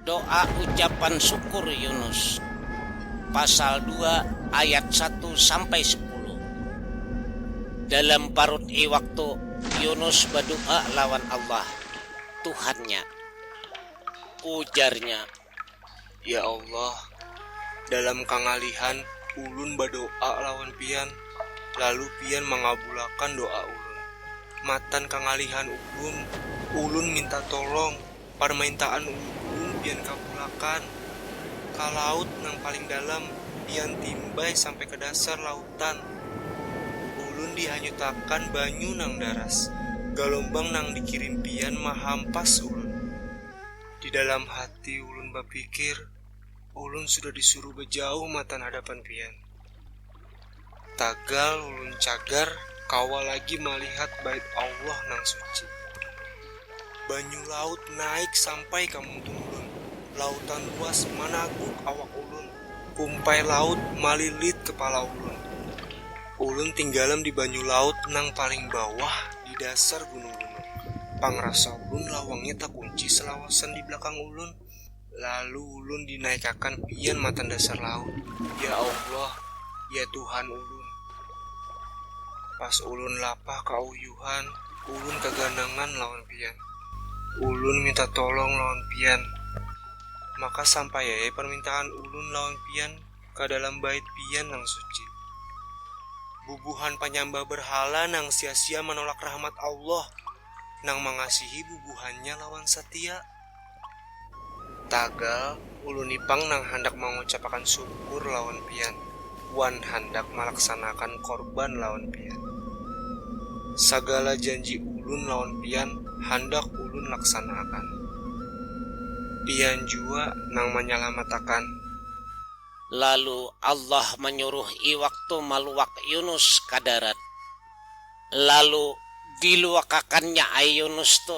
Doa ucapan syukur Yunus pasal dua ayat satu sampai sepuluh. Dalam parut iwak tu Yunus badoa lawan Allah, Tuhannya. Ujarnya, Ya Allah, dalam kangalihan ulun badoa lawan Pian, lalu Pian mangabulakan doa ulun. Matan kangalihan ulun, ulun minta tolong. Parmaintaan uum pian kapulakan ka laut nang paling dalam, pian timbay sampai ka dasar lautan. Ulun dihanyutakan banyu nang daras, galombang nang dikirim pian mahampas ulun. Di dalam hati ulun bapikir, ulun sudah disuruh bajauh matan hadapan pian. Tagal ulun cagar kawa lagi malihat Bait Allah nang suci. Banyu laut naik sampai ka muntung ulun. Lautan luas managuk awak ulun. Kumpai laut malilit kepala ulun. Ulun tinggalam di banyu laut nang paling bawah di dasar gunung-gunung. Pangrasa ulun lawangnya takunci salawasan di belakang ulun. Lalu ulun dinaikakan pian matan dasar laut. Ya Allah, ya Tuhan ulun. Pas ulun lapah kauyuhan, ulun kaganangan lawan pian. Ulun minta tolong lawan pian. Maka sampaiai parmintaan ulun lawan pian ka dalam bait pian nang suci. Bubuhan panyambah berhala nang sia-sia manolak rahmat Allah nang mangasihi bubuhannya lawan satia. Tagal, uluni pang nang handak mangucapakan syukur lawan pian, wan handak malaksanakan korban lawan pian. Sagala janji ulun lawan pian handak ulun laksanaakan. Pian jua nang manyalamatakan. Lalu Allah manyuruh iwak tu maluwak Yunus ka darat. Lalu diluwakakannya ai Yunus tu.